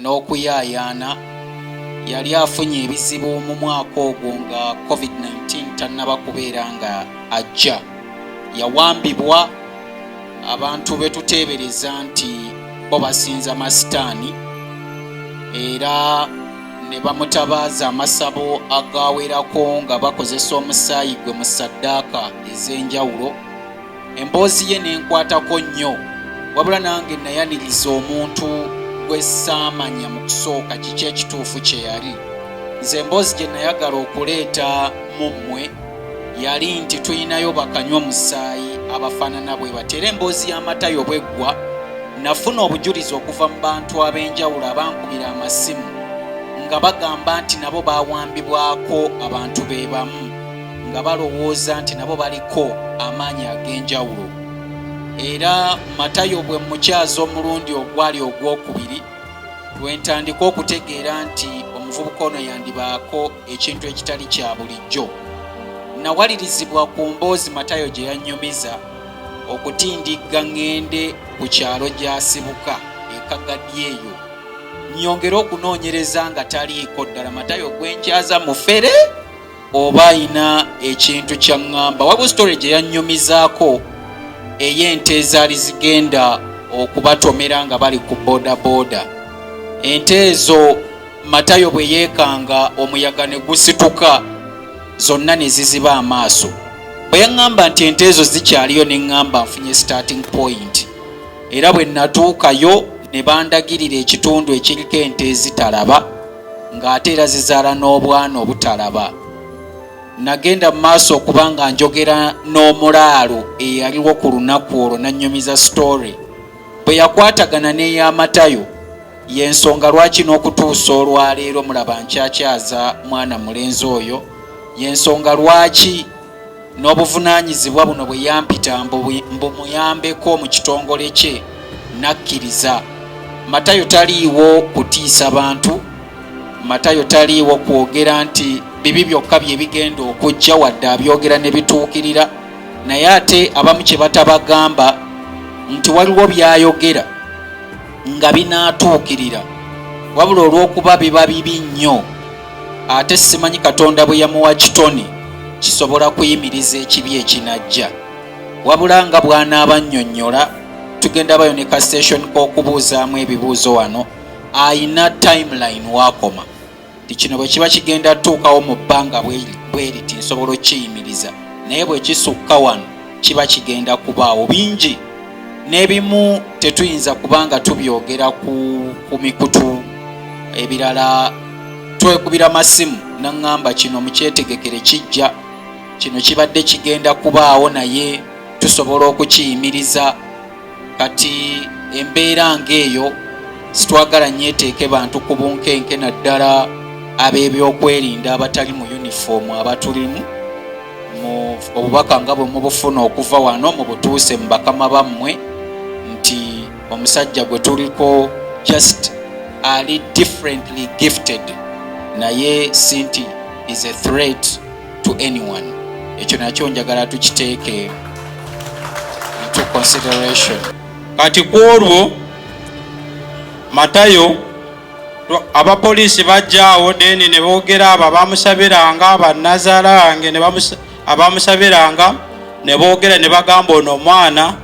n'okuyaayaana yali afunye ebizibu mu mwaka ogwo nga covid-19 tannaba kubeera nga ajja yawambibwa abantu be tuteebereza nti bo basinza masitaani era ne bamutabaaza amasabo agawerako nga bakozesa omusaayi gwe mu saddaaka ez'enjawulo emboozi ye nenkwatako nnyo wabula nange nayaniriza omuntu gwe saamanya mu kusooka kiki ekituufu kye yali nze emboozi gye nayagala okuleeta mu mmwe yali nti tulinayo bakanywa musaayi abafaanana bwe bati era emboozi y'amatayo bweggwa nafuna obujulizi okuva mu bantu ab'enjawulo abankubira amasimu nga bagamba nti nabo bawambibwako abantu be bamu nga balowooza nti nabo baliko amaanyi ag'enjawulo era matayo bwe mukyaza omulundi ogwali ogwokubiri lwentandika okutegeera nti omuvubuka ono yandibaako ekintu ekitali kya bulijjo nawalirizibwa ku mboozi matayo gye yannyumiza okutindigga ŋŋende ku kyalo gy'asibuka ekagadi eyo nnyongere okunoonyereza nga taliiko ddala matayo gwenkyaza mufere oba ayina ekintu kyaŋŋamba waliwo story gye yannyumizaako ey'ente ezaali zigenda okubatomera nga bali ku bodaboda ente ezo matayo bwe yeekanga omuyaga ne gusituka zonna ne ziziba amaaso bwe yaŋŋamba nti ente ezo zikyaliyo ne ŋŋamba nfunye starting point era bwe natuukayo ne bandagirira ekitundu ekiriko ente ezitalaba ng'ate era zizaala n'obwana obutalaba nagenda mu maaso okuba nga njogera n'omulaalo eyaliwo ku lunaku olwo nannyumiza sitoore bwe yakwatagana n'eyamatayo y'ensonga lwaki n'okutuusa olwaleero mulaba nkyakyaza mwana mulenzi oyo y'ensonga lwaki n'obuvunaanyizibwa buno bwe yampita mbu muyambeko mu kitongole kye nakkiriza matayo taliiwo kutiisa bantu matayo taliiwo kwogera nti bibi byokka bye bigenda okujja wadde abyogera ne bituukirira naye ate abamu kye batabagamba nti waliwo by'ayogera nga binaatuukirira wabula olw'okuba biba bibi nnyo ate simanyi katonda bwe yamuwa kitoni kisobola kuyimiriza ekibi ekinajja wabula nga bwanaaba nnyonnyola tugenda bayo ne ka station k'okubuuzaamu ebibuuzo wano ayina timeline wakoma ti kino bwe kiba kigenda tuukawo mu bbanga bweriti nsobola okukiyimiriza naye bwe kisukka wano kiba kigenda kubaawo bingi n'ebimu tetuyinza kuba nga tubyogera ku mikutu ebirala twekubira masimu naŋŋamba kino mukyetegekere kijja kino kibadde kigenda kubaawo naye tusobola okukiyimiriza kati embeera ng'eyo sitwagala nyeteeke bantu ku bunkenke naddala ab'ebyokwerinda abatali mu yunifoomu abatulimu obubaka nga bwe mubufuna okuva wano mubutuuse mu bakama bammwe nti omusajja gwe tuliko just ali differently gifted naye sinti is a threat to anyone ekyo nakyo njagala tukiteeke into consideration kati ku olwo matayo abapoliisi bajjaawo deni ne boogera abo abamusabiranga abanazaala yange abamusabiranga ne boogera ne bagamba ono omwana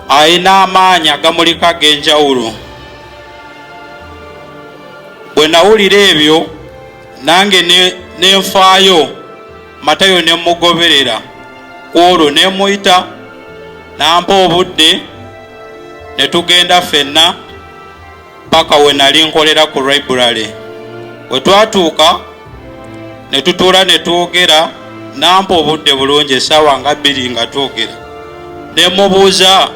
alina amaanyi agamuliko ag'enjawulo bwe nawulira ebyo nange ne nfaayo matayo ne mugoberera ku olwo ne muyita nampa obudde ne tugenda ffenna paka we nali nkolera ku library we twatuuka ne tutuula ne twogera nampa obudde bulungi esaawa nga bbiri nga twogera ne mubuuza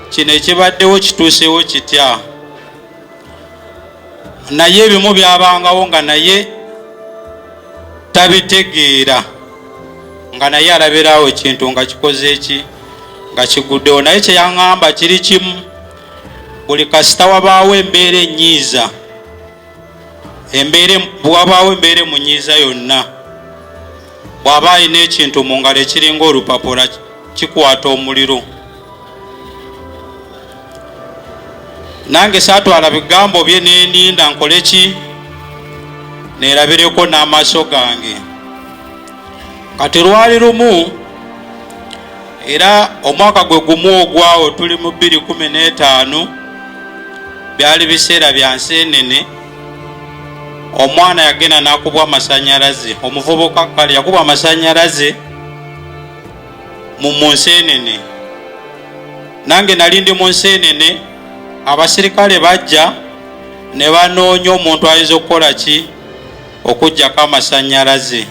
kino ekibaddewo kituusewo kitya naye ebimu byabangawo nga naye tabitegeera nga naye alabiraawo ekintu nga kikoze eki nga kiguddewo naye kyeyaŋamba kiri kimu buli kasita wabaawo embeera enyiiza embeera bwewabaawo embeera emunyiiza yonna bw'aba alina ekintu mu ngalo ekiringa olupapula kikwata omuliro nange saatwala bigambo bye neninda nkole ki neerabireko n'amaaso gange kati lwali lumu era omwaka gwe gumu ogwawo tuli mu 215 byali biseera bya nsi enene omwana yagenda nakubwa amasanyalaze omuvubuka kale yakubwa amasanyalaze mu nsi enene nange nali ndi mu nsi enene abasirikale bajja ne banoonya omuntu ayinza okukola ki okujjako amasanyalaze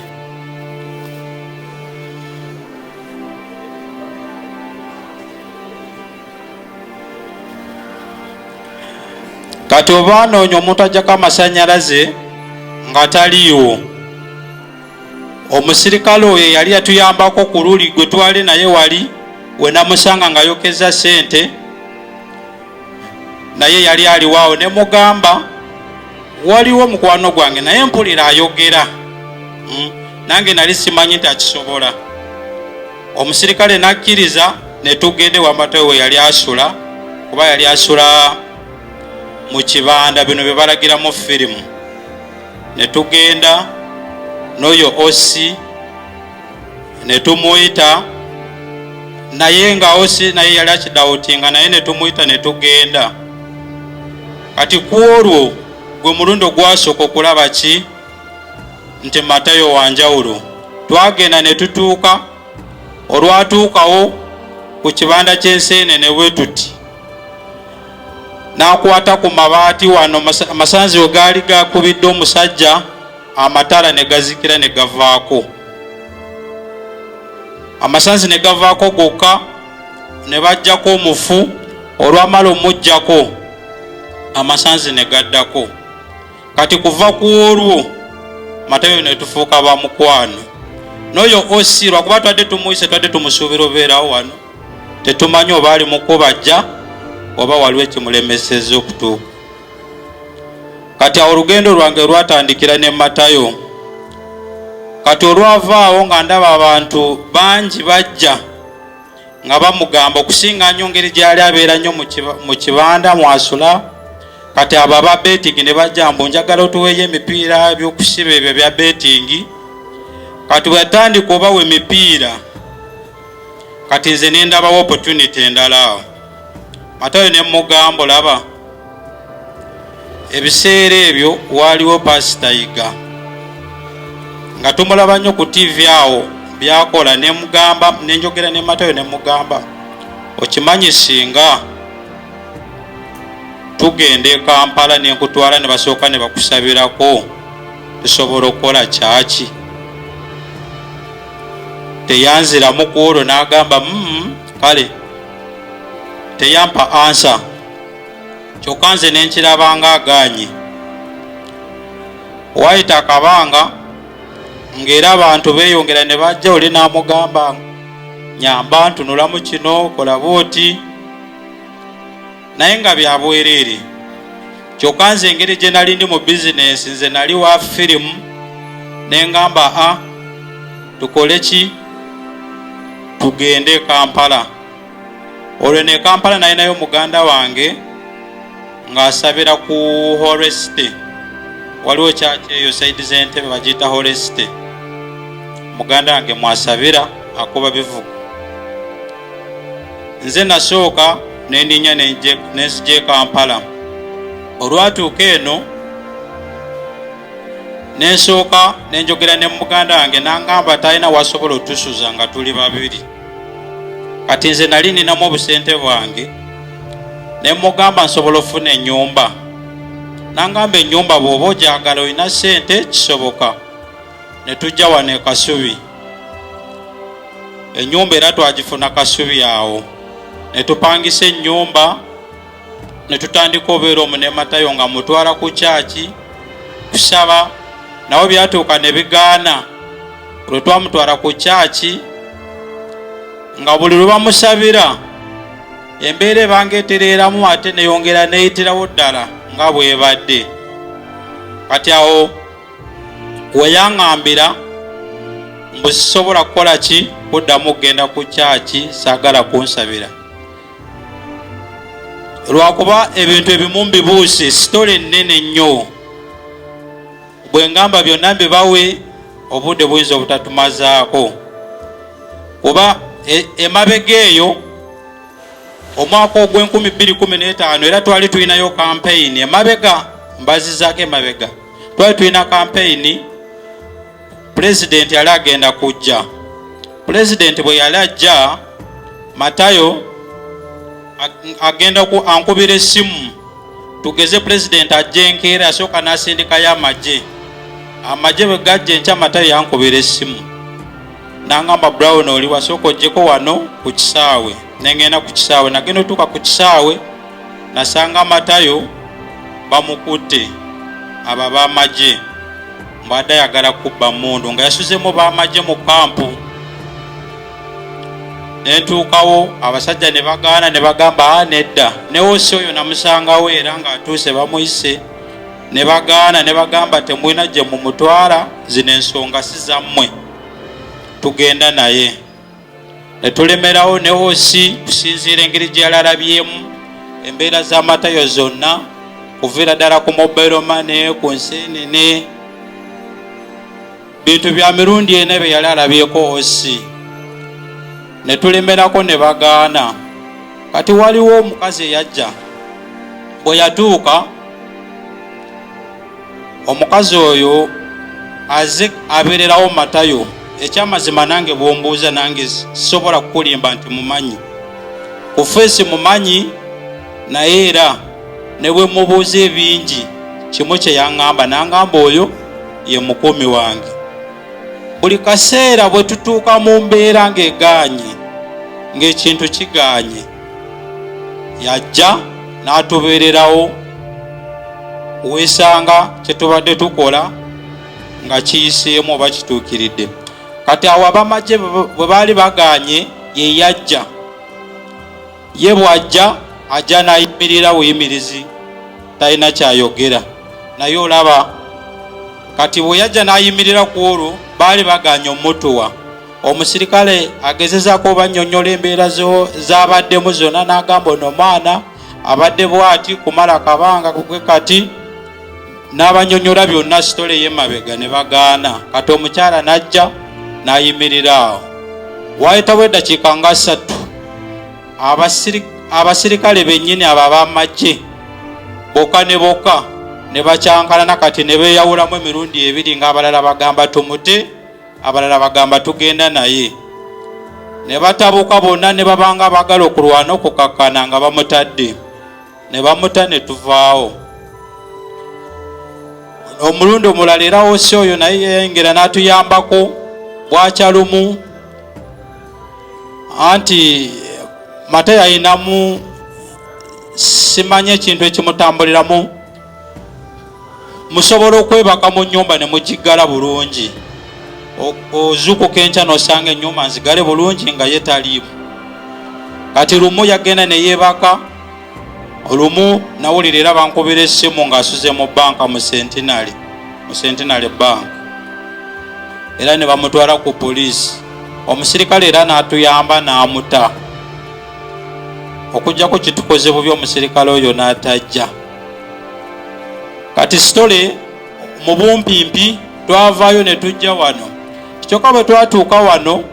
kati oba anoonya omuntu ajjako amasanyalaze nga taliiwo omusirikale oyo yali yatuyambako ku luli gwe twali naye wali wenamusanga nga yokeza sente naye yali aliwaawo ne mugamba waliwo mukwano gwange naye mpulira ayogera hmm? nange nali simanyi nti akisobola omusirikale nakkiriza netugende wamatawe we yali asula kuba yali asula mu kibanda bino bye balagiramu firimu netugenda n'oyo osi ne tumuyita naye nga osi naye yali akidawutinga naye ne tumuyita ne tugenda kati ku olwo gwe mulundi ogwasooka okulaba ki nti matayo wanjawulo twagenda ne tutuuka olwatuukawo ku kibanda ky'enseenene bwe tuti n'akwata ku mabaati wano amasanzi we gaali gakubidde omusajja amatala ne gazikira ne gavaako amasanzi ne gavaako gokka ne bajjako omufu olwamala omujjako amasanzi ne gaddako kati kuva ku olwo matayo ne tufuuka ba mukwano n'oyo osi lwakuba twadde tumuyise twadde tumusuubira obeerawo wano tetumanyi oba ali mukubajja oba waliwo ekimulemeseza okutuuka kati awo olugendo lwange lwatandikira ne matayo kati olwavaawo nga ndaba abantu bangi bajja nga bamugamba okusinga nyo ngeri gyali abeera nnyo mu kibanda mwasula kati abo aba betingi ne bajja mbu njagala otuweeyo emipiira ebyokusiba ebyo bya betingi kati bweyatandika obawa emipiira kati nze nendabawo opportunity endala awo matayo ne mugambo laba ebiseera ebyo waaliwo pasita yiga nga tumulaba nnyo ku tivi awo byakola nemugamba nenjogera ne matayo ne mugamba okimanyi singa tugenda ekampala nenkutwala ne basooka ne bakusabirako tusobola okukola kyaki teyanziramu ku olwo n'agamba mm, kale teyampa ansa kyokka nze ne nkirabanga agaanye waayita akabanga ng'era abantu beeyongera ne bajja oli n'amugamba nyamba ntunulamu kino kola bwoti naye nga byabwereere kyokka nze engeri gye nali ndi mu bizinensi nze nali wa firimu ne ngamba a ah, tukole ki tugende e kampala olwo ne kampala nalinayo muganda wange ng'asabira ku horesite waliwo kyaki eyo saidi z'entebe bagiyita horesite muganda wange mwasabira akuba bivuga nze nasooka nendinya nenzija ekampala olwatuuka eno nensooka nenjogera ne muganda wange nangamba talina wasobola otusuza nga tuli babiri kati nze nali ninamu obusente bwange nemugamba nsobola ofuna enyumba nangamba enyumba bwoba ojagala olina sente kisoboka ne tujja wano e Kasubi. Ennyumba era twagifuna Kasubi awo ne tupangisa ennyumba ne tutandika obeera omu ne Matayo nga mutwala ku kyaki kusaba nawe byatuuka ne bigaana olwe twamutwala ku kyaki nga buli lwe bamusabira embeera ebanga etereeramu ate neyongera neyitirawo ddala nga bwebadde kati awo weyaŋambira mbu sisobola kukola ki kuddamu okugenda ku kyaki saagala kunsabira lwakuba ebintu ebimu mbibuuse sitole nnene nnyo bwe ngamba byonna mbibawe obudde buyinza obutatumazaako kuba e, emabega eyo omwaka ogw'enkumi bbiri kumi n'etaano era twali tulinayo kampeyini emabega mbazizaako emabega twali tulina kampeyini pulezidenti yali agenda kujja pulezidenti bwe yali ajja matayo agenda ankubira essimu tugeze pulezidenti ajja enkeera asooka n'asindikayo amagye amagye bwe gajja enkya matayo yankubira essimu nangamba brown oli wasooka ojjeko wano ku kisaawe nengenda ku kisaawe nagenda otuuka ku kisaawe nasanga matayo bamukutte abo ab'amagye mbwadde ayagala kubba mundu nga yasuzemu b'amagye mu kampu nentuukawo abasajja ne bagaana ne bagamba a ah, nedda newosi oyo namusangawo era ng'atuuse bamuyise ne bagaana ne bagamba temulina gye mumutwala zino ensonga si zammwe tugenda naye ne tulemerawo ne osi kusinziira engeri gye yalalabyemu embeera za matayo zonna kuviira ddala ku mobile mane ku nseenene bintu bya mirundi ena bye yali alabyeko osi ne tulemerako ne bagaana kati waliwo omukazi eyajja bwe yatuuka omukazi oyo aze abeererawo matayo ekyamazima nange bwombuuza nange sisobola kukulimba nti mumanyi ku feesi mumanyi naye era ne bwe mubuuza ebingi kimu kye yaŋŋamba n'aŋŋamba oyo ye mukuumi wange buli kaseera bwe tutuuka mu mbeera ng'egaanye ng'ekintu kigaanye yajja n'atubeererawo weesanga kye tubadde tukola nga kiyiseemu oba kituukiridde kati awo abamagye bwe baali baganye ye yajja ye bw'ajja ajja n'ayimirira buyimirizi talina kyayogera naye olaba kati bwe yajja n'ayimirira ku olwo baali baganye omutuwa omusirikale agezezako obanyonyola embeera zabaddemu zona nagamba ono omwana abadde bwati kumala kabanga kugwe kati n'abanyonyola byonna sitole yemabega ne bagaana kati omukyala najja nayimirira awo wayitawo eddakiika nga ssatu abasirikale bennyini abo abamagye boka ne boka ne bakyankalana kati ne beeyawulamu emirundi ebiri ng'abalala bagamba tumute abalala bagamba tugenda naye ne batabuka bonna ne babanga abagala okulwana okukakkana nga bamutadde ne bamuta ne tuvaawo omulundi omulala era wosi oyo naye yayengera n'atuyambako bwakya lumu anti mata yalinamu simanya ekintu ekimutambuliramu musobola okwebaka mu nyumba ne mugiggala bulungi ozuukuka enkya nosanga enyumba nzigale bulungi nga ye taliimu kati lumu yagenda neyebaka olumu nawulira era bankubira essimu ngaasuze mu banka mu sentinary mu sentinary bank era ne bamutwala ku poliisi omusirikale era n'atuyamba n'amuta okujjako kitukoze bubi omusirikale oyo n'atajja kati sitole mu bumpimpi twavaayo ne tujja wano kyokka bwe twatuuka wano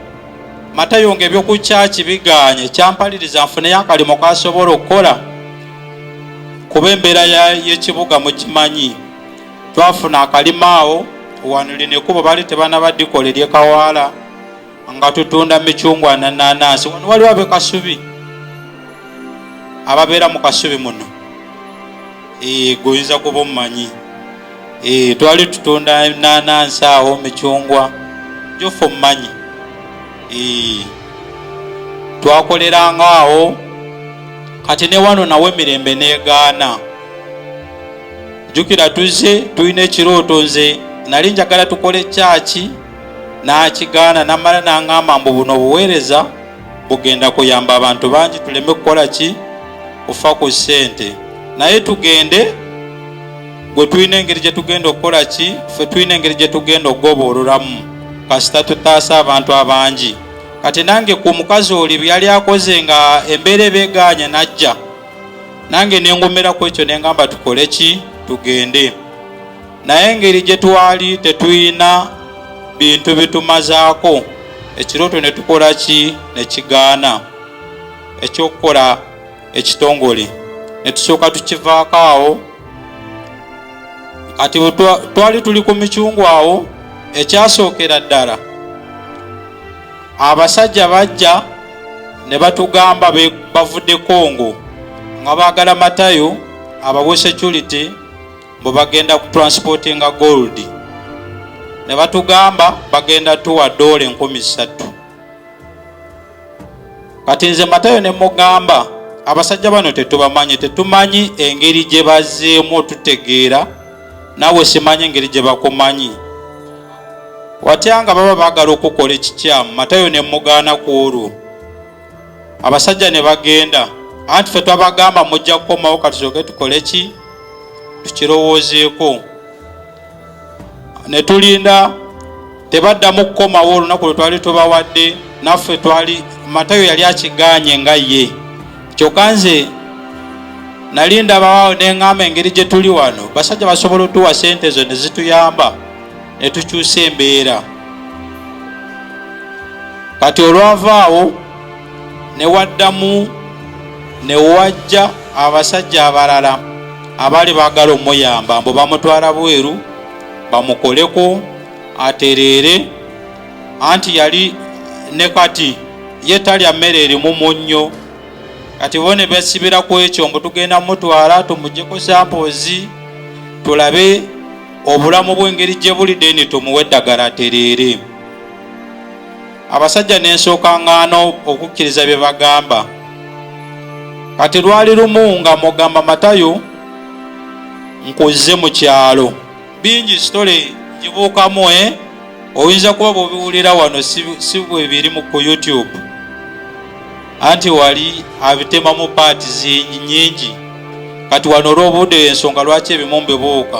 matayo nga ebyokukyaki bigaanye kyampaliriza nfuneyo akalimo kasobola okukola kuba embeera y'ekibuga mukimanyi twafuna akalimo awo wanuli nekubo bali tebanabadikola eryekawaala nga tutunda micungwa nananansi wano waliwo abe kasubi ababeera mu kasubi muno eh, goyinza kuba omumanyi eh, twali tutunda nanansi awo micungwa jofa omumanyi eh, twakoleranga awo kati ne wano nawe emirembe negaana jukira tuzze tulina ekirooto nze nali njagala tukole kyaki n'akigaana namala n'aŋŋamba mbu buno obuweereza bugenda kuyamba abantu bangi tuleme kukola ki kufa ku ssente naye tugende gwe tulina engeri gye tugenda okukola ki ffe tulina engeri gye tugenda okugoboololamu kasita tutaasa abantu abangi kati nange ku mukazi oli byeyali akoze nga embeera ebeegaanya najja nange nengumira ku ekyo nengamba tukole ki tugende naye engeri gye twali tetulina bintu bitumazaako ekirooto ne tukola ki ne kigaana ekyokukola ekitongole ne tusooka tukivaako awo kati twali tuli ku micungwa awo ekyasookera ddala abasajja bajja ne batugamba bavudde kongo nga baagala matayo abawe security mbu bagenda ku transportinga gold ne batugamba bagenda tuwa doola enkumi ssatu kati nze matayo ne mugamba abasajja bano tetubamanyi tetumanyi engeri gye bazeemu otutegeera nawe simanyi engeri gye bakumanyi watya nga baba baagala okukola ekikyamu matayo ne mugaana ku olwo abasajja ne bagenda anti fe twabagamba mujja kukomawo katusoke tukole ki tukirowoozeeko ne tulinda tebaddamu kukomawo olunaku lwe twali tubawadde naffe twali matayo yali akiganye nga ye kyokka nze nali ndabawaawo ne ŋŋamba engeri gye tuli wano basajja basobola otuwa sente ezo ne zituyamba ne tukyusa embeera kati olwava awo ne waddamu ne wajja abasajja abalala abaali baagala omuyamba mbu bamutwala bweru bamukoleko atereere anti yali ne kati ye talya mmere erimu munnyo kati bo ne besibira ku ekyo mbu tugenda mutwala tumujeko sampoozi tulabe obulamu bw'engeri gye buli deni tumuwe eddagala atereere abasajja nensooka ngaana okukkiriza bye bagamba kati lwali lumu nga mugamba matayo nkuzze mu kyalo bingi sitole ngibuukamu e eh? oyinza kuba bwobiwulira wano si bwebiri mu ku youtube anti wali abitemamu paati zingi nyingi kati wano olw'obuude y'ensonga lwaki ebimu mbibuuka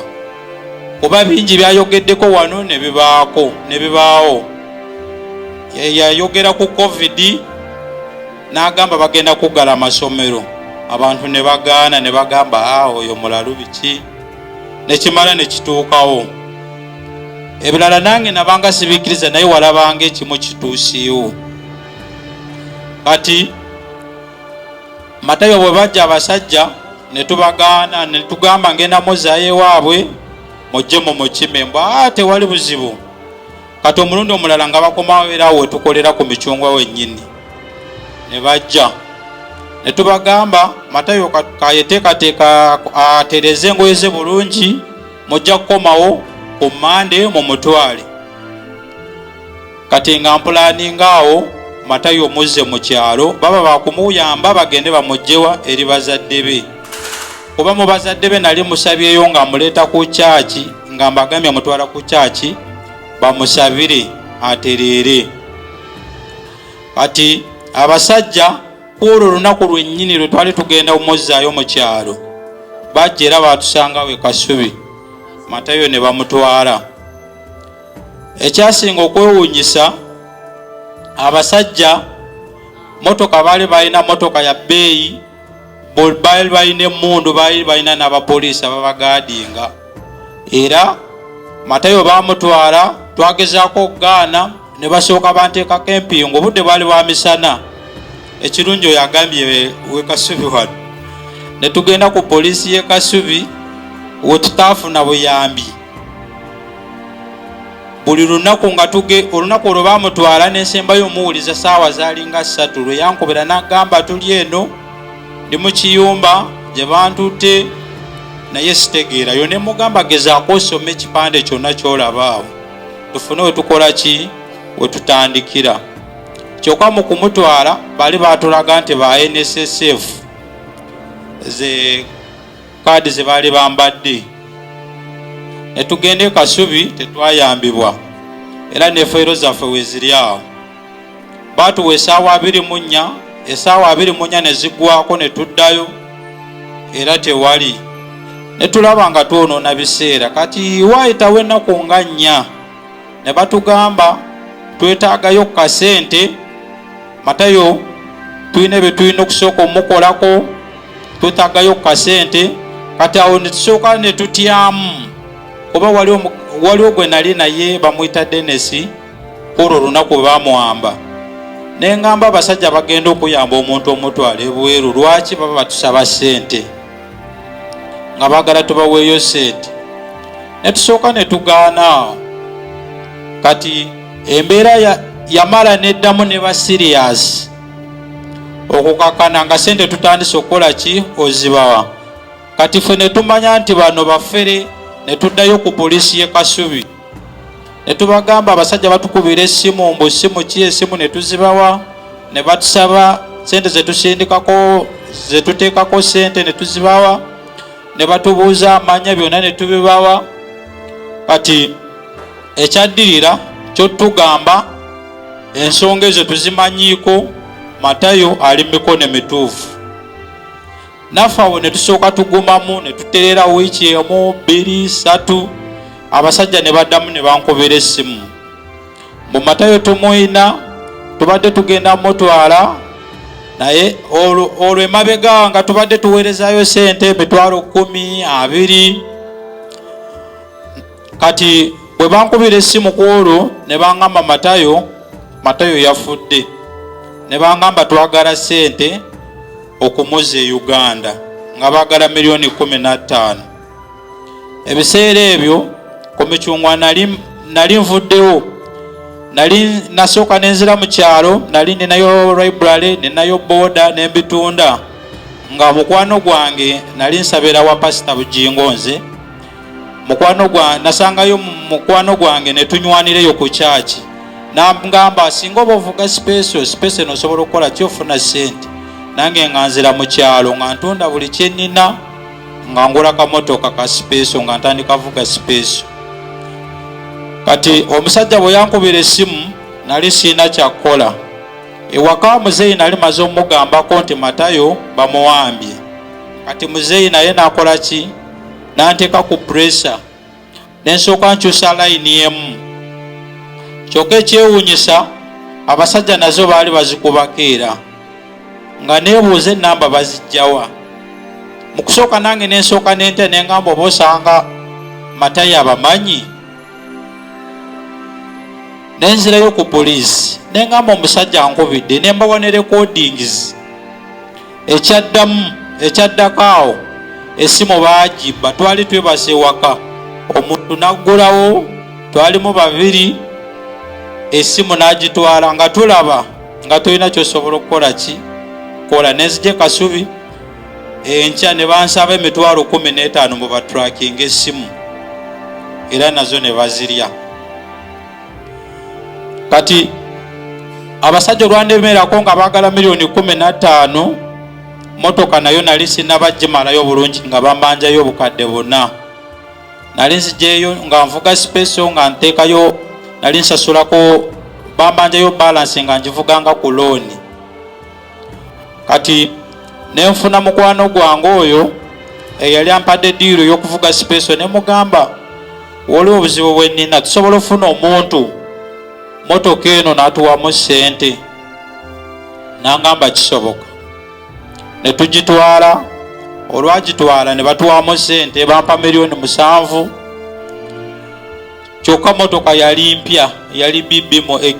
kuba bingi byayogeddeko wano ne bibaako ne bibaawo yayogera ku covid n'agamba bagenda kuggala amasomero abantu ne bagaana ne bagamba a ah, oyo mulalu biki nekimala ne kituukawo ebirala nange nabanga sibikkiriza naye walabanga ekimu kituusiiwo kati matayo bwe bajja abasajja ne tubagaana ne tugamba ngenda muzayo ewaabwe mujje mu mukime mbwa ah, tewali buzibu kati omulundi omulala nga bakomawo era awo wetukolera ku micungwa wennyini ne bajja ne tubagamba matayo kayeteekateeka atereze engoye ze bulungi mujja kukomawo ku mande mu mutwale kati nga mpulaninga awo matayo muzze mu kyalo baba bakumuyamba bagende bamugjewa eri bazadde be kuba mu bazadde be nali musabyeyo nga muleeta ku kyaki nga mbagambye mutwala ku kyaki bamusabire atereere kati abasajja kwolwo olunaku lwennyini lwe twali tugenda omuzzaayo mu kyalo bajja era baatusangawo e kasubi matayo ne bamutwala ekyasinga okwewuunyisa abasajja motoka baali balina motoka ya bbeeyi baali balina emmundu baali balina n'abapoliisi ababagaadinga era matayo baamutwala twagezaako okugaana ne basooka banteekako empingu obudde baali bwa misana ekirungi oyo agambye wekasubi wano ne tugenda ku poliisi y'e kasubi wetutaafuna buyambi buli lunaku nga tuge olunaku olwo bamutwala nensembayo omuwuliza saawa zalinga ssatu lwe yankubira nagamba tuli eno ndi mu kiyumba gye bantutte naye sitegeerayo ne mugamba gezaako osoma ekipande kyonna kyolabaawo tufune wetukola ki wetutandikira kyokka mu kumutwala bali batulaga nti ba nssf ze kaadi ze baali bambadde ne tugenda e kasubi tetwayambibwa era nefayiro zaffe weziri awo baatuwa esaawa abiri mu nnya esaawa abiri mu nnya ne ziggwako ne tuddayo era tewali ne tulaba nga twonoona biseera kati waayitawo ennaku nga nnya ne batugamba twetaagayo ku kasente matayo tulina bye tulina okusooka omukolako twetagayo ku kasente kati awo netusooka netutyamu oba waliwo gwe nali naye bamuyita denesi olwo olunaku bwe bamuwamba ne ngamba abasajja bagenda okuyamba omuntu omutwala ebweru lwaki baba batusaba sente nga bagala tubaweeyo sente netusooka netugaana kati embeera yamala neddamu ne basiriyasi okukakana nga sente tutandise okukola ki ozibawa kati fe netumanya nti bano bafere netuddayo ku polisi ye kasubi netubagamba abasajja batukubira esimu mbu simu ki esimu netuzibawa nebatusaba sente zetusindikako zetuteekako sente netuzibawa nebatubuuza amanya byonna netubibawa kati ekyaddirira kyotugamba ensonga ezo tuzimanyiiko matayo ali mumikono emituufu naffe awo ne tusooka tugumamu ne tuterera wiiki emu bbiri satu abasajja ne baddamu ne bankubira essimu mu matayo tumuyina tubadde tugenda mutwala naye olwo emabega nga tubadde tuweerezayo sente emitwalo kumi abiri kati bwe bankubira essimu ku olwo ne bangamba matayo matayo yafudde ne bangamba twagala ssente okumuza e uganda nga baagala miliyoni kumi nattaano ebiseera ebyo ku micungwa nali nvuddewo nali nasooka nenzira mu kyalo nali ninayo library ninayo booda nembitunda nga mukwano gwange nali nsabira wa pasita bujingo nze mukwano gwa nasangayo mukwano gwange ne tunywaanireyo ku kyaki nangamba singa oba ovuga sipeso sipeso eno osobola okukola ki ofuna ssente nange nga nzira mu kyalo nga ntunda buli kyenina nga ngula kamotoka ka sipeso nga ntandika vuga sipeso kati omusajja bwe yankubira essimu nali siina kyakukola ewaka muzeeyi nali maze omugambako nti matayo bamuwambye kati muzeeyi naye nakola ki n'anteeka ku pureesa ne nsooka nkyusa layini emu kyokka ekyewuunyisa abasajja nazo baali bazikubako era nga neebuuza ennamba bazijjawa mu kusooka nange ne nsooka nente ne ngamba oba osanga matayi abamanyi ne nzirayo ku poliisi ne ngamba omusajja nkubidde ne mbawa ne rekodingizi ekyaddamu ekyaddako awo esimu baagibba twali twebasa ewaka omuntu n'aggulawo twalimu babiri esimu n'agitwala nga tulaba nga tolina kyosobola okukola ki kola nenzija ekasubi enkya ne bansaba emitwalo kumi n'etaano mu batrakinga esimu era nazo ne bazirya kati abasajja olwandemerako nga bagala miliyoni kumi nataano motoka nayo nali sinabajimalayo bulungi nga bamanjayo obukadde buna nali nzijeyo nga nvuga sipeso nga ntekayo nali nsasulako bamanjayo balansi nga njivuganga ku looni kati nenfuna mukwano gwange oyo eyali ampadde diiru y'okuvuga sipeso ne mugamba waliwo obuzibu bwe nnina tusobola ofuna omuntu motoka eno n'atuwamu ssente nangamba kisoboka ne tugitwala olwagitwala ne batuwamu ssente bampa miliyoni musanvu kyokka motoka yali mpya yali bbmu x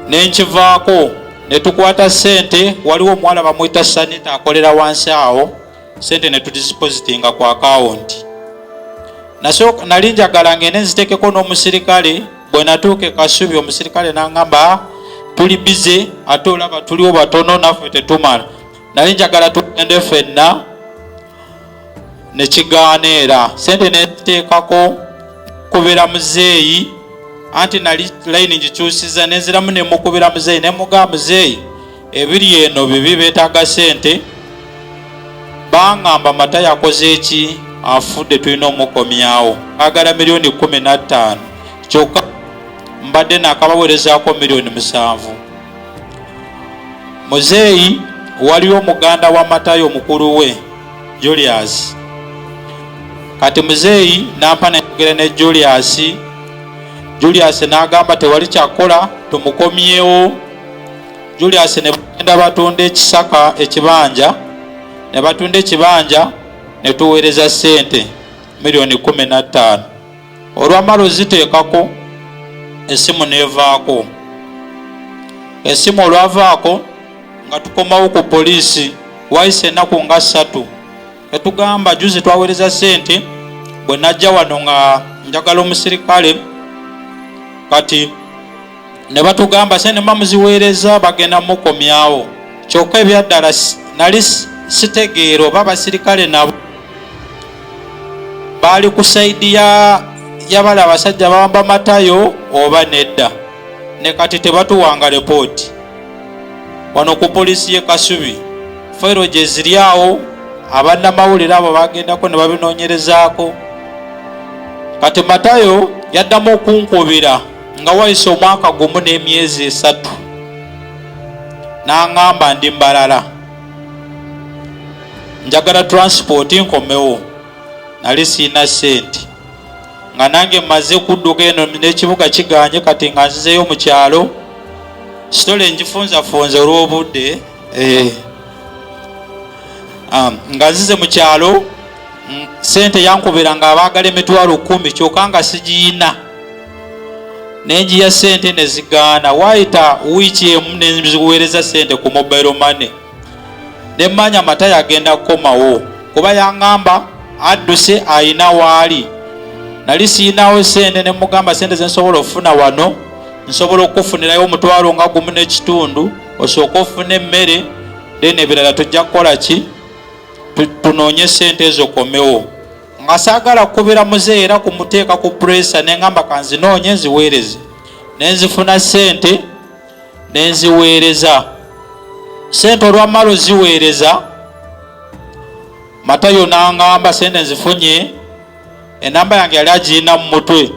nenkivaako netukwata sente waliwo omuwala bamwita sanita akolera wansi awo sente netudisipositinga ku akawunti nali njagala ngende nzitekeko n'omusirikale bwenatuuka ekasubi omusirikale nangamba tuli bize ate olaba tuliwo batono naffe tetumala nali njagala tugende fenna ne kigaana era sente neteekako kubira muzeeyi anti nali layini ngikyusiza nenziramu nemukubira muzeeyi nemuga muzeeyi ebiri eno bibi betaaga sente bangamba mata yakoze eki afudde tulina omukomyawo agala miliyoni kumi nattaano kyokka mbadde nakabawerezaako miliyoni musanvu muzeeyi waliwo muganda wa matayo mukulu we julius kati muzeeyi nampa nayogera ne julius julius nagamba tewali kyakukola tumukomyewo julius ne bagenda batunda ekisaka ekibanja ne batunda ekibanja ne tuweereza ssente miliyoni kumi na ttaano olwamala oziteekako esimu nevaako esimu olwavaako nga tukomawo ku poliisi waise enaku nga ssatu etugamba juzi twawereza sente bwe najja wano nga njagala omusirikale kati ne batugamba sente muba muziweereza bagenda mukomyawo kyokka ebyaddala nali sitegeera oba basirikale nabo baali ku saidi yabali abasajja bawamba matayo oba nedda ne kati tebatuwanga repooti wano ku poliisi ye kasubi fairo gye ziri awo abannamawulire abo bagendako ne babinoonyerezaako kati matayo yaddamu okunkubira nga wayise omwaka gumu n'emyezi esatu n'aŋŋamba ndi mbalala njagala transipooti nkomewo nali siina ssente nga nange mmaze kudduka eno n'ekibuga kiganye kati nga nzizeeyo mu kyalo sitole ngifunzafunza olw'obudde eh. um, nga nzize mu kyalo ssente yankubira nga abaagala emitwalo kumi kyoka nga sigiyina nenjiya sente nezigaana waayita wiiki emu nenziweereza sente ku mobile money nemmanya matayo agenda kukomawo kuba yangamba adduse ayina waali nali siyinawo sente nemugamba sente zensobola okufuna wano nsobola okukufunirayo omutwalo nga gumu n'ekitundu osooka ofuna emmere then ebirala tujja kukola ki tunoonye sente ezo komewo nga saagala kukubira muzeeyi era ku muteeka ku pureesa ne ngamba kanzinoonye nziweereze ne nzifuna ssente ne nziweereza ssente olwammala oziweereza matayo n'angamba ssente nzifunye enamba yange yali agirina mu mutwe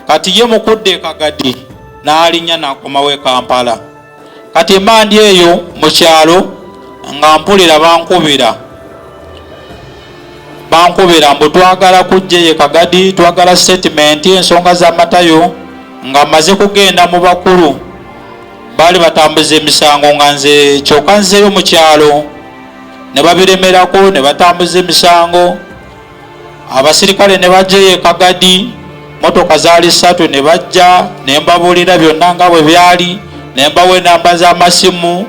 kati ye mukudde ekagadi n'alinnya n'akomawo e kampala kati mba ndi eyo mu kyalo nga mpulira bankubira bankubira mbu twagala kujja eye kagadi twagala sitatimenti ensonga z'amatayo nga maze kugenda mu bakulu baali batambuza emisango nga nze kyoka nzeyo mu kyalo ne babiremerako ne batambuza emisango abasirikale ne bajja eyo ekagadi motoka zaali ssatu ne bajja ne mbabuulira byonna nga bwe byali ne mbawa enamba z'amasimu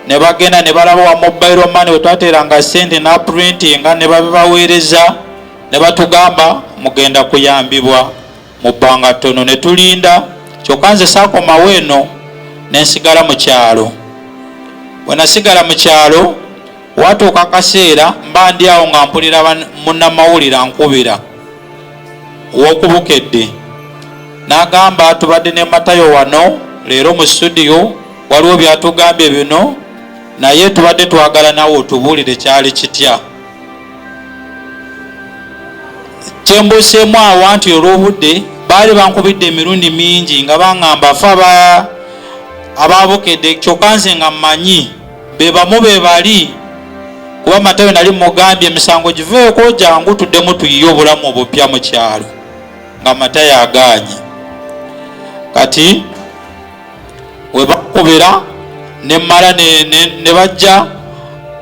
ne bagenda ne balaba wa mobile money wetwateranga sente na printinga ne babibaweereza ne batugamba mugenda kuyambibwa mu bbanga ttono ne tulinda kyokka nze saakomawo eno ne nsigala mu kyalo bwe nasigala mu kyalo watuuka akaseera mba ndi awo nga mpulira munnamawulire ankubira wokubukedde n'agamba tubadde ne matayo wano leero mu studio waliwo byatugambye bino naye tubadde twagala nawe otubuulire kyali kitya kyembuseemu awa nti olw'obudde baali bankubidde emirundi mingi nga baŋŋamba fe aba abaabukedde kyokka nze nga mmanyi be bamu be bali kuba matayo nali mugambye emisango giveeko jangu tuddemu tuyiye obulamu obupya mu kyalo nga matayo agaanye kati we bakubira ne mala ne bajja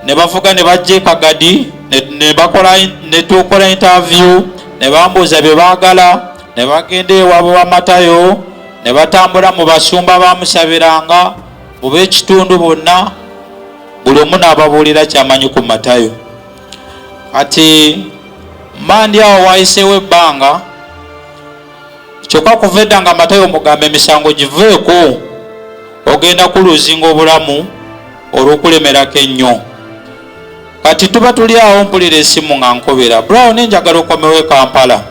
ne bavuga ne bajja ekagadi ne bakola ne tukola interview ne bambuuza bye baagala ne bagenda ewaabwe wa matayo ne batambula mu basumba bamusabiranga mu b'ekitundu bonna buli omu n'ababuulira kyamanyi ku matayo kati mandi awo wayiseewo ebbanga kyokka kuva edda nga matayo omugamba emisango giveeko ogenda kuluzinga obulamu olw'okulemerako ennyo kati tuba tuli awo mpulira esimu nga nkubira brown enjagala okomewo e kampala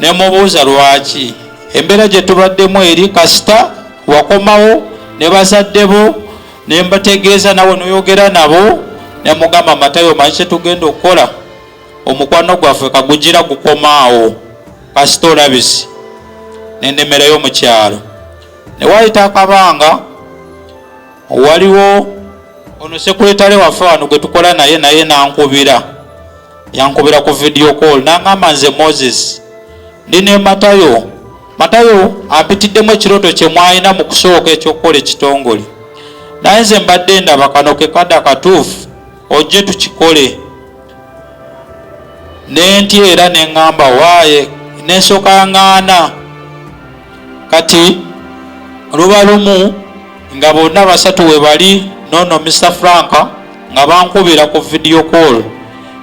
ne mubuuza lwaki embeera gye tubaddemu eri kasita wakomawo ne bazadde bo ne mbategeeza nawe noyogera nabo ne mugamba matayo manyi kye tugenda okukola omukwano gwaffe kagugira gukomaawo kasita olabisi nenemerayo mu kyalo ne wayita akabanga waliwo ono sekuletale waffe wano gwe tukola naye naye nankubira yankubira ku video call nangamba nze moses ndi ne matayo matayo ampitiddemu ekirooto kye mwalina mu kusooka ekyokukola ekitongole naye nze mbadde ndaba kano kekada katuufu ojje tukikole nentya era neŋŋamba waaye nensooka ŋŋaana kati luba lumu nga bonna basatu we bali noono mr frank nga bankubira ku vidiyo call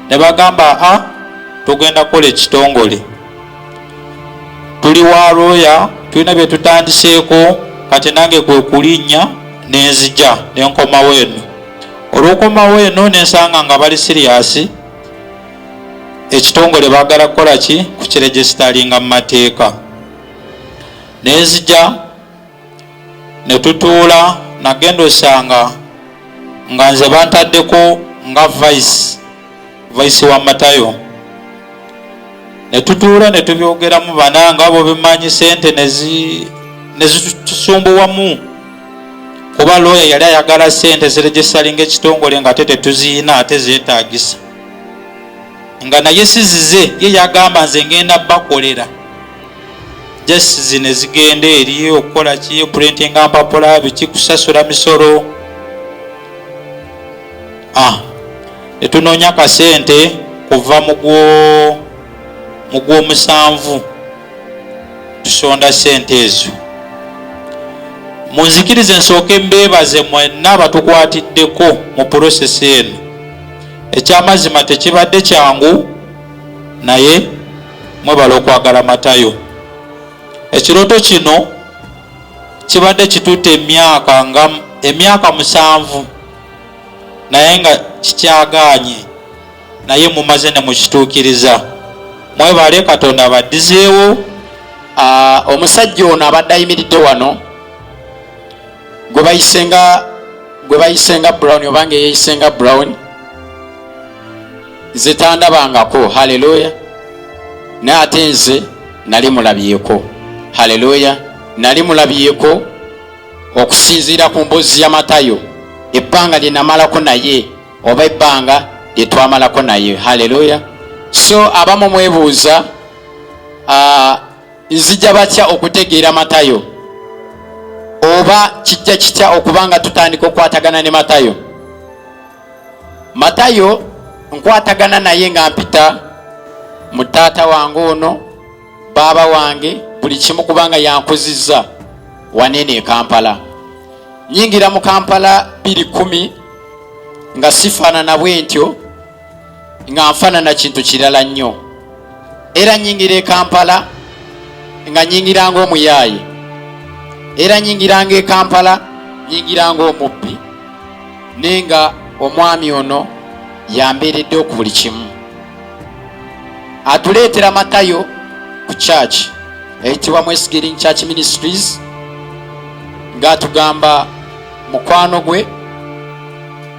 ne bagamba a ah, tugenda kukola ekitongole tuli wa looya tulina bye tutandiseeko kati nange kwe kulinnya nenzija nenkomawo eno olwokomawo eno nensanga nga bali siriyasi ekitongole bagala kukola ki kukiregisitalinga mu mateeka nenzija netutuula nagenda osanga nga nze bantaddeko nga vice vaisi wa matayo netutuula netubyogeramu bana nga abo bemanyi sente nezitusumbuwamu kuba looya yali ayagala sente ziregistalinga ekitongole nga ate tetuziina ate zetagisa nga naye sizize ye yagamba nze ngenda bakolera just zine zigenda eri okukola ki printinga mpapula biki kusasula misolo ah, netunoonya kasente kuva mugwomusanvu tusonda sente ezo munzikirize nsooke mbeebaze mwenna abatukwatiddeko mu purosesi eno ekyamazima tekibadde kyangu naye mwebala okwagala matayo ekirooto kino kibadde kitutte emyaka nga emyaka musanvu naye nga kikyagaanye naye mumaze ne mukituukiriza mwebale katonda abaddizeewo ah, omusajja ono abadde ayimiridde wano gwe bayise nga gwe bayise nga brown obanga eyeyise nga brown nze tandabangako haleluya naye ate nze nali mulabyeko haleluya nali mulabyeko okusinziira ku mboozi ya matayo ebbanga lye namalako naye oba ebbanga lye twamalako naye haleluya so abamu mwebuuza nzija batya okutegeera matayo oba kijja kitya okuba nga tutandika okukwatagana ne matayo matayo nkwatagana naye nga mpita mu taata wange ono baaba wange buli kimu kubanga yankuzizza waneeno e kampala nyingira mu kampala biri kumi nga sifaanana bwentyo nga nfaanana kintu kirala nnyo era nyingira e kampala nga nyingiranga omuyaaye era nyingiranga e kampala nyingiranga omubbi naye nga omwami ono yambeeredde oku buli kimu atuleetera matayo ku church eyitibwa mwesigiring church ministries ng'atugamba mukwano gwe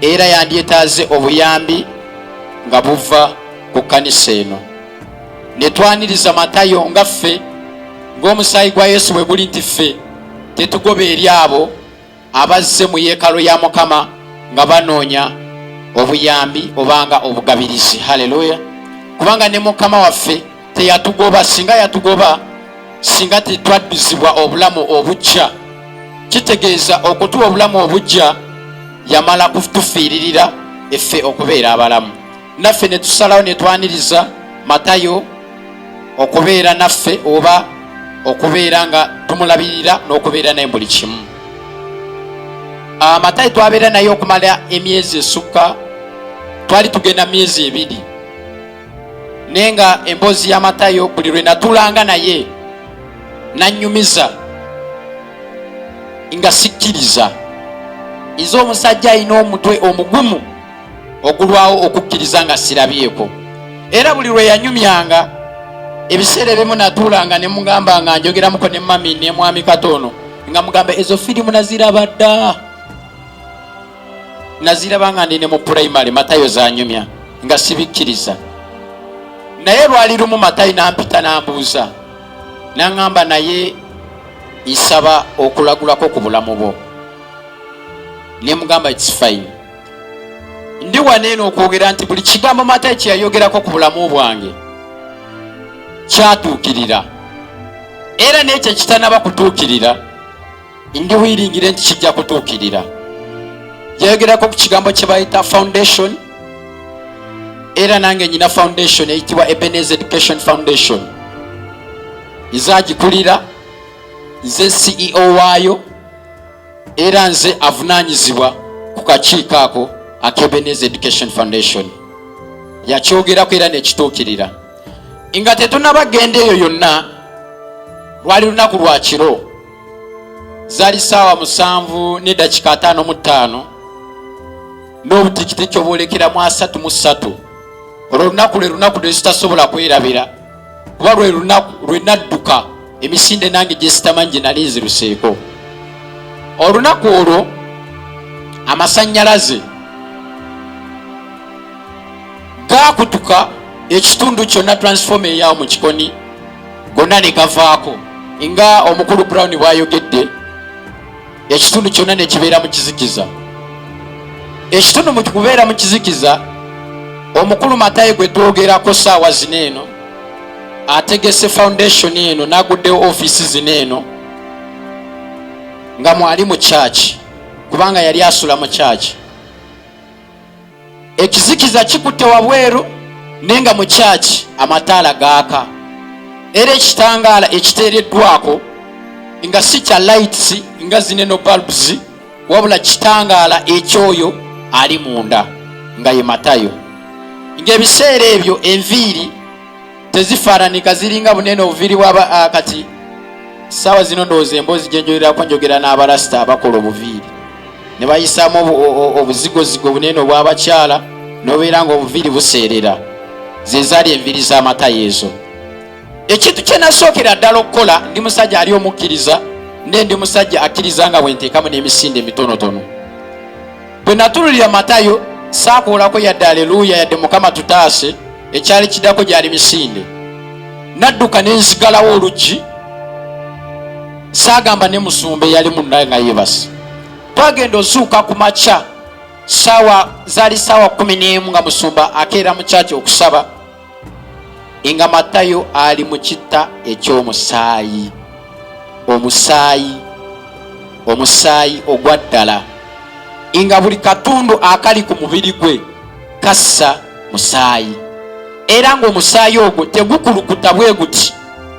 era yandyetaaze obuyambi nga buva ku kkanisa eno ne twaniriza matayo nga ffe ng'omusaayi gwa yesu bwe guli nti ffe tetugoba eri abo abazze mu yeekalo ya mukama nga banoonya obuyambi obanga obugabirizi haleluya kubanga ne mukama waffe teyatugoba singa yatugoba singa tetwadduzibwa obulamu obujja kitegeeza okutuwa obulamu obujja yamala kutufiiririra effe okubeera abalamu naffe ne tusalawo ne twaniriza matayo okubeera naffe oba okubeera nga tumulabirira n'okubeera naye buli kimu ah, matayo twabeera naye okumala emyezi esukka twali tugenda myezi ebiri naye nga emboozi ya matayo buli lwe natulanga naye nanyumiza nga sikkiriza iza omusajja alina omutwe omugumu ogulwawo okukkiriza nga sirabyeko era buli lwe yanyumyanga ebiseera ebimu natuulanga ne mugamba nga njogeramuko ne mami ne mwami katoono nga mugamba ezo firimu naziraba dda naziraba nga ndi ne mu purayimale matayo zanyumya nga sibikkiriza naye lwali lumu matayi nampita nambuuza naŋamba naye nsaba okulagulako ku bulamu bwo nemugamba its fine ndi wano eno okwogera nti buli kigambo matayo kye yayogerako ku bulamu bwange kyatuukirira era n'ekyo ekitanaba kutuukirira ndi wiringire nti kijja kutuukirira yayogerako ku kigambo kye bayita foundation era nange nyina foundation eyitibwa ebenez education foundation nzagikulira nze ceo waayo era nze avunaanyizibwa ku kakiiko ako akebenez education foundation yakyogerako era nekituukirira nga tetunaba genda eyo yonna lwali lunaku lwa kiro zali saawa musanvu nedakika ataano mu ttaano n'obutikitiki obwolekeramu asatu mu ssatu olwo olunaku lwe lunaku lwezitasobola kwerabira kuba lwe lunaku lwe nadduka emisinde nange gyesitamanyi gye nali nziruseeko olunaku olwo amasannyalaze gaakutuka ekitundu kyonna transfoma eyawo mu kikoni gonna ne gavaako nga omukulu brown bwayogedde ekitundu kyonna ne kibeera mu kizikiza ekitundu mu kubeera mu kizikiza omukulu matayi gwe twogerako saawa zino eno ategese foundation eno naguddewo ofiisi zino eno nga mwali mu kyaki kubanga yali asula mu kyaki ekizikiza kikutte wabweru naye nga mu kyaki amataala gaaka era ekitangaala ekiteereddwako nga si kya lights nga zineno bulbs wabula kitangaala ekyoyo ali munda nga ye matayo ng'ebiseera ebyo enviiri tezifaananika ziringa bunene obuviiri bwaba ah, kati saawa zino ndowooza emboozi gyenjogerako njogera n'abalasita abakola obuviiri ne bayisaamu obuzigozigo bunene obw'abakyala nobeera nga obuviiri buseerera zezaali enviiri z'amaka yeezo ekintu kyenasookera ddala okukola ndi musajja ali omukkiriza naye ndi musajja akkiriza nga bwenteekamu n'emisinde emitonotono bwe natululira matayo saakuulako yadde aleluuya yadde mukama tutaase ekyali kidako gyali misinde nadduka nenzigalawo oluggi saagamba ne musumba eyali munaye nga yebasi twagenda ozuuka ku makya saawa zaali saawa kumi n'emu nga musumba akeera mu kyaki okusaba nga matayo ali mu kitta eky'omusaayi omusaayi omusaayi ogwa ddala nga buli katundu akali ku mubiri gwe kassa musaayi era ng'omusaayi ogwo tegukulukuta bwe guti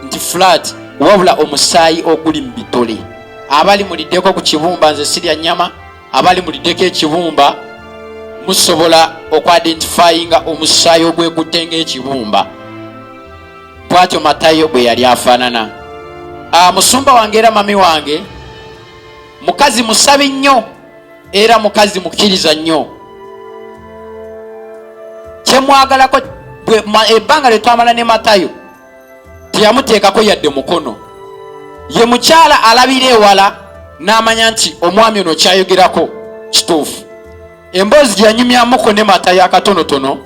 nti fulaati wabula omusaayi oguli mu bitole abali muliddeko ku kibumba nze sirya nyama abali muliddeko ekibumba musobola okwadentifayinga omusaayi ogwekutte ngaekibumba bwatyo matayo bwe yali afaanana ah, musumba wange era mami wange mukazi musabi nnyo era mukazi mukkiriza nnyo kyemwagalako ebbanga lyetwamala ne matayo teyamuteekako yadde mukono ye mukyala alabira ewala n'amanya nti omwami ono kyayogerako kituufu emboozi gyeyanyumyamuko ne matayo akatonotono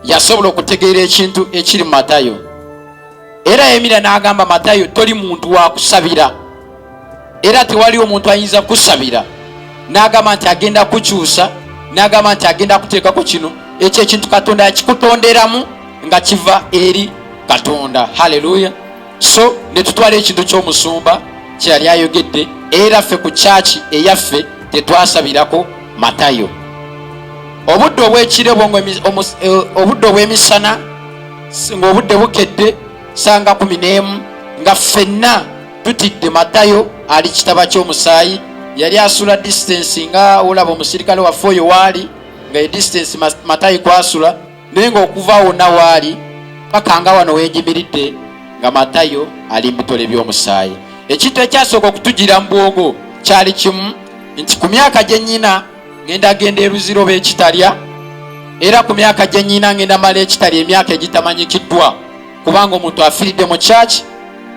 yasobola okutegeera ekintu ekiri mu matayo era yayimira n'agamba matayo toli muntu wa kusabira era tewaliwo omuntu ayinza kusabira n'agamba nti agenda kukyusa n'agamba nti agenda kuteekako kino ekyo ekintu katonda yakikutonderamu nga kiva eri katonda halleluya so ne tutwala ekintu ky'omusumba kyeyali ayogedde era ffe ku kyaki eyaffe tetwasabirako matayo obudde obwekire eh, obudde obw'emisana singa obudde bukedde sanga kumi n'emu nga ffenna tutidde matayo ali kitaba ky'omusaayi yali asula distance nga olaba omusirikale waffe oyo waali nga ye distance matayi kwasula naye ngaokuva wonna waali paka nga wano wenjimiridde nga matayo ali mubitole by'omusaayi ekintu ekyasooka okutujira mu bwongo kyali kimu nti ku myaka gye nnyina ngenda genda eruziro bekitalya era ku myaka gye nnyina ngenda mala ekitalya emyaka egitamanyikiddwa kubanga omuntu afiiridde mu kyaki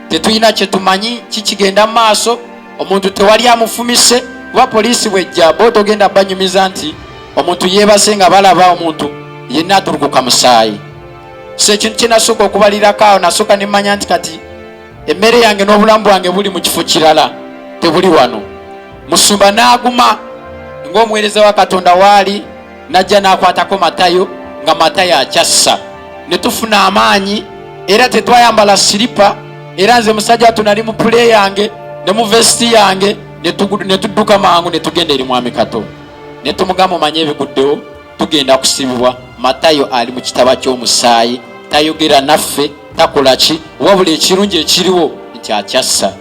tetulina kye tumanyi kikigenda mu maaso omuntu tewali amufumise kuba poliisi bwejja bo togenda banyumiza nti omuntu yeebase nga balaba omuntu yenna atuluguka musaayi so ekintu kyenasooka okubalirako awo nasooka nemmanya nti kati emmere yange n'obulamu bwange buli mu kifo kirala tebuli wano musumba n'aguma ng'omuweereza wa katonda waali n'ajja n'akwatako matayo nga matayo akyassa ne tufuna amaanyi era tetwayambala siripa era nze musajja watu nali mu pule yange ne mu vesiti yange ne tudduka mangu ne tugenda eri mwami kato ne tumugamba omanye ebiguddewo tugenda kusibibwa matayo ali mu kitaba ky'omusaayi tayogera naffe takola ki wabula ekirungi ekiriwo nti akyassa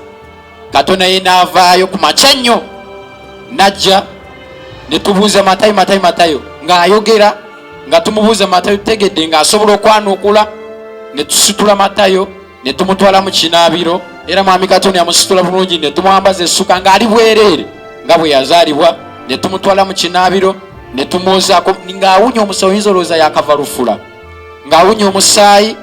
katonda ye naavaayo ku makya nnyo najja netubuuza matayo matayo matayo ng'ayogera nga tumubuuza matayo tutegedde ng'asobola okwanukula netusitula matayo ne tumutwala mu kinaabiro era mwami katonda yamusitula bulungi ne tumwambaza essuka ng'ali bwereere nga bwe yazaalibwa ne tumutwala mu kinaabiro ne tumwozaako ng'awunya omusayi oyinza olowooza yakava lufula ng'awunya omusaayi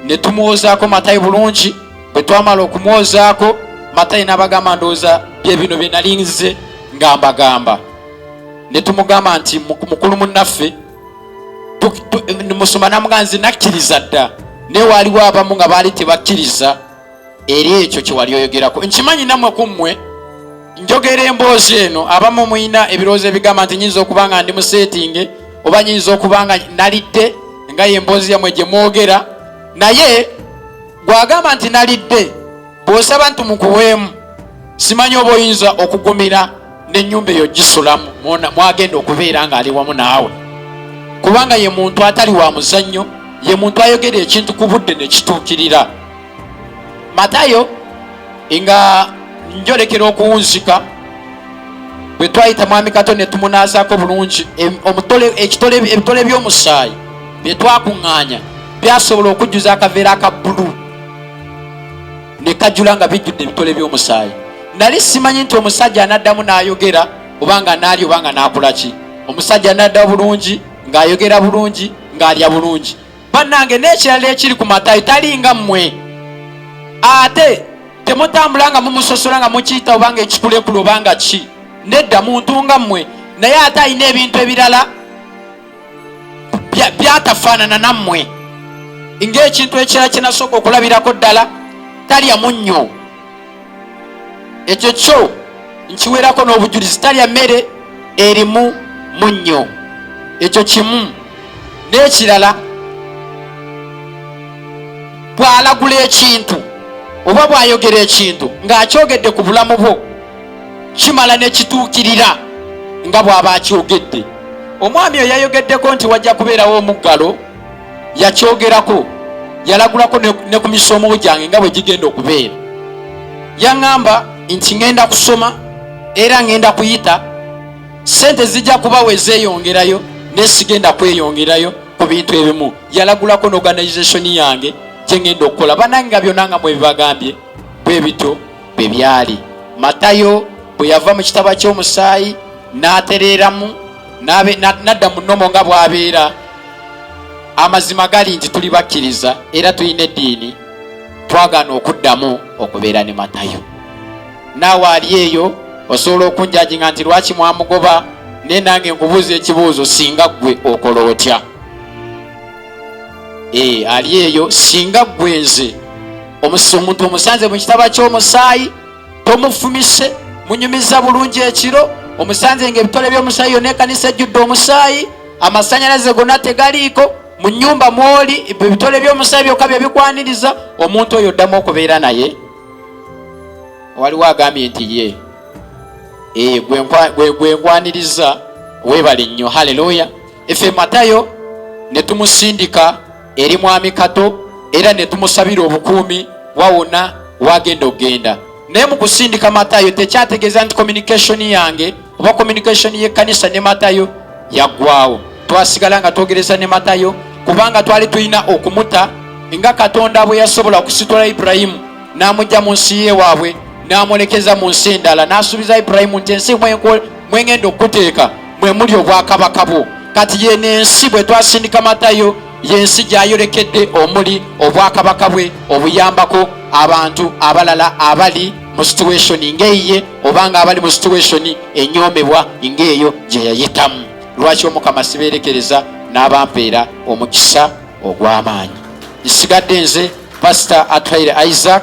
ne tumwozaako matayi bulungi bwe twamala okumwozaako matayi n'abagamba ndowooza bye bino bye nali nze nga mbagamba ne tumugamba nti mukulu munnaffe musoma namuga nze nakkiriza dda naye waaliwo abamu nga baali tebakkiriza eri ekyo kyewali oyogerako nkimanyi namwe ku mmwe njogera emboozi eno abamu mulina ebirowoozo ebigamba nti nyinza okuba nga ndi musetinge oba nyinza okuba nga nalidde nga ye emboozi yamwe gye mwogera naye gwagamba nti nalidde bw'osaba nti mukuweemu simanyi oba oyinza okugumira n'ennyumba eyo gisulamu mwagenda okubeera ng'ali wamu naawe kubanga ye muntu atali wa muzannyo ye muntu ayogera ekintu ku budde ne kituukirira matayo nga njolekera okuwunzika bwe twayita mwami kato ne tumunaazako bulungi ebitole by'omusaayi bye twakuŋŋaanya byasobola okujjuza akaveera aka bbulu nekajula nga bijjudde ebitole by'omusaayi nali simanyi nti omusajja anaddamu n'ayogera oba nga naali oba nga n'akola ki omusajja anadda bulungi ng'ayogera bulungi ng'alya bulungi bannange n'ekirala ekiri ku matayi talinga mmwe ate temutambula nga mumusosola nga mukiyita oba nga ekikulekule oba nga ki nedda muntu nga mmwe naye ate alina ebintu ebirala byatafaanana nammwe ng'ekintu ekirala kinasooka okulabirako ddala talya munnyo ekyo kyo nkiwerako n'obujulizi talya mmere erimu munnyo ekyo kimu n'ekirala bw'alagula ekintu oba bw'ayogera ekintu ng'akyogedde ku bulamu bwo kimala nekituukirira nga bw'aba akyogedde omwami oyo yayogeddeko nti wajja kubeerawo omuggalo yakyogerako yalagulako ne ku misomo gyange nga bwe gigenda okubeera yaŋŋamba nti ŋenda kusoma era ŋenda kuyita sente zijja kuba we zeeyongerayo naye sigenda kweyongerayo ku bintu ebimu yalagulako n'organizationi yange gye ŋenda okukola banange nga byonna nga mwebibagambye bwe bityo bwe byali matayo bwe yava mu kitaba ky'omusaayi n'atereeramu n'adda mu nnomo nga bw'abeera amazima gali nti tuli bakkiriza era tulina eddiini twagaana okuddamu okubeera ne matayo naawe ali eyo osobola okunjajinga nti lwaki mwamugoba naye nange nkubuuza ekibuuzo singa ggwe okola otya ee eh, ali eyo singa gwenze omuntu omusanze mu kitaba ky'omusaayi tomufumise munyumiza bulungi ekiro omusanze nga ebitole by'omusaayi yona ekanisa ejjudde omusaayi amasanyalaze gona tegaliiko mu nyumba mwoli ebitole by'omusaayi byokka bye bikwaniriza omuntu oyo oddamu okubeera naye waliwo agambye nti ye ee eh, gwe nkwaniriza webale nnyo haleluya Ife Matayo ne tumusindika eri mwami Kato era ne tumusabira obukuumi wawona wagenda okugenda. Naye mu kusindika Matayo tekyategeeza nti communication yange oba communication y'ekkanisa ne Matayo yaggwawo. Twasigala nga twogereza ne Matayo kubanga twali tulina okumuta nga Katonda bwe yasobola okusitula Ibulayimu n'amujja mu nsi ye waabwe n'amwolekeza mu nsi endala n'asuubiza Ibulayimu nti ensi mwenkol mwengenda okuteeka mwe muli obwakabaka bwo kati yeno ensi bwe twasindika matayo yensi gyayolekedde omuli obwakabaka bwe obuyambako abantu abalala abali mu situationi ngaeyiye obanga abali mu situationi enyomebwa ngaeyo gyeyayitamu lwaki omukama sibeerekereza n'abampeera omukisa ogw'amaanyi nsigadde nze pasita atwaire isaac